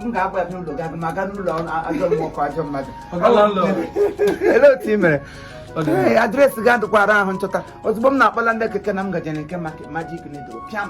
m ga-abịa n'ụlọ gị ma aga n'ụlọ ajọ mmụọ ajọ mmadụ olee otu ị mere address gị adịkwa ara ahụ nchọta ozugbo m na-akpọla ndị keke na m gaje na nke Magic Needle pịam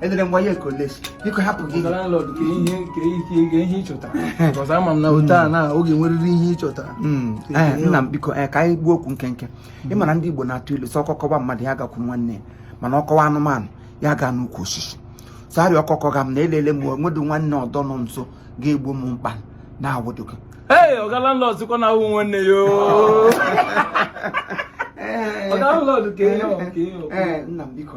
edere m waye koles biko hapụ gị hmm. eh, nna m biko eh, ka anyị gbuo okwu nkenke ị mara ndị Igbo na-atụ ilu sị ọkọ kọba mmadụ ya gakwu nwanne mana ọ kọwa anụmanụ ya gaa n'ukwu osisi so ọkọ kọga m na elele m o nwedụ nwanne ọdọ nọ nso ga-egbo m mkpa na awụdụ gị ee ọga landlord sikwa na ahụ nwanne ya ọga landlord ka ihe ọ ka ihe ọ nna m biko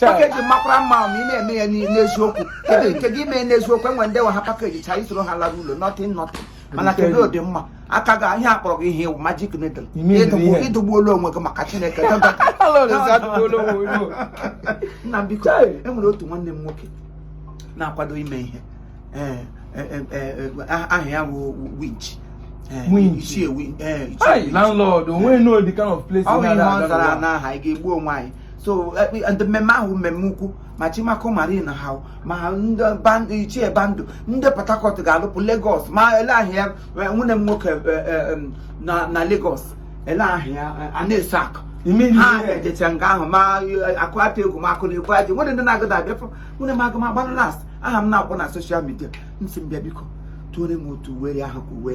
package makwara mma ma ị na-eme ya n'eziokwu kedu nke gị mee n'eziokwu enwe ndị nwe ha package cha isoro ha lara ụlọ nothing nothing mana kedu ụdị mma aka ga ihe akpọrọ gị ihe wụ Magic Needle ị dụgbuola onwe gị maka chineke nna biko enwere otu nwanne m nwoke na-akwado ime ihe eh, eh, eh, ah, aha ya bụ winch landlord onwe no the kind of place ọ bụ ihe ọ zara n'aha ị ga-egbu onwe anyị so ndị mmemme ahụ mmemme ukwu ma Chimako Marine ha ma ndị ichie band ndị port harcourt ga-alụpụ lagos ma elee aha nwanne m nwoke na lagos elee aha a na-eso akụ ha ejecha nga ahụ ma akụ atụ egwu ma akụ na-egwu aja nwere ndị na-agụda abịa nwere m agụ m agbara last aha m na-akọ na social media m si m bịa biko dụọrọ m otu uwe ahụ ka uwe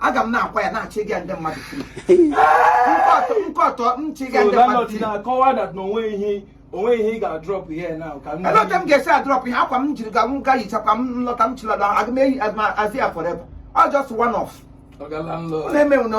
aga m na-akwa ya na-achị gị ndị mmadụ nkọtọ nchị gị ndị mmadụ na-akọwa that na onwe ihe onwe ihe ị ga-adrop ihe now ka m elee otu m ga-esi adrop ihe akwa m jiri ga m ga-eyichakwa m lọta m chịlata aga m eyi azi ya forever ọ just one off ọ na-eme na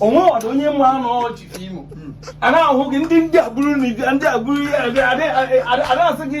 onwe ọdụ onye mma anụ Chief Imo a na-ahụ gị ndị ndị agbụrụ na ndị agbụrụ adịghị asị gị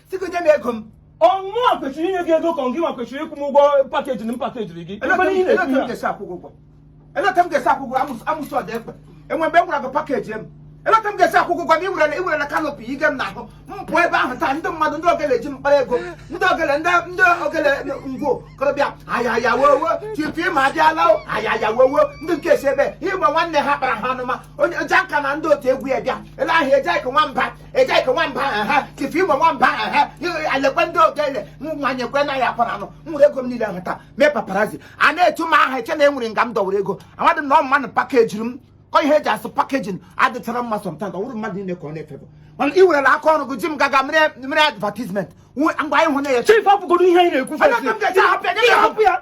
sịkwa nye m ego mụ nwa kwesịrị inye gị ego ka gị nwa kwesịrị ịkwụ m ụgwọ package na m pakejiri gị Ebe niile elee otu m na-ekwu ya. ga-esi akwụ gị ụgwọ elee otu m ga-esi akwụ gị amụsụ amụsụ ọda ekpe enwe mgbe m gwara gị package m elee otu m ga-esi akwụ gị ụgwọ na iwerela iwerela canopy ige m n'ahụ m pụọ ebe ahụ taa ndị mmadụ ndị ogele ji m kpara ego ndị ogele ndị ndị ogele ngwo korobịa ayaya wowo Chief Imo abịala o ayaya wowo ndị nke si ebe ịgba nwanne ha kpara ha anụma onye janka na ndị otu egwu ya bịa ele ahụ eje ka nwamba ejike nwamba aha ha chief igwe nwamba aha ha alekwe ndị ogele nwa nyekwe na ya akpara anụ nwere ego m niile ahụ taa mee paparazi a na-etu m aha eche na e nwere nga m dọwara ego amadị na ọ mmadụ pakejiri m ihe eji asụ packaging adịchara mma sometimes ọ bụrụ mmadụ niile ka ọ na-efebụ mana ị werela aka ọrụ gị ji m gaga mere advertisement mgbe anyị hụ na ya chief hapụgodo ihe anyị na-ekwu hapụ ya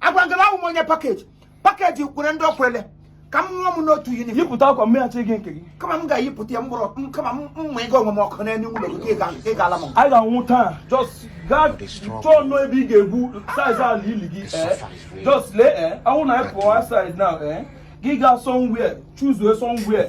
agwagala m onye package package kwere ndị o kwele ka m nwa m n'otu yunif yipụta akwa mmeghachi gị nke gị kama m ga-eyipụta ya mkpụrụ m kama m mma ịga onwe m ọkụ n'elu ụlọ gị ka ị ga- ka ị ga-ala m ọkụ. anyị ga-anwụ taa just gaa chọọ nnọọ ebe ị ga-egwu size ala ili gị ee just lee ee anwụ na anyị pụọ size na ee gị gaa somewhere choose somewhere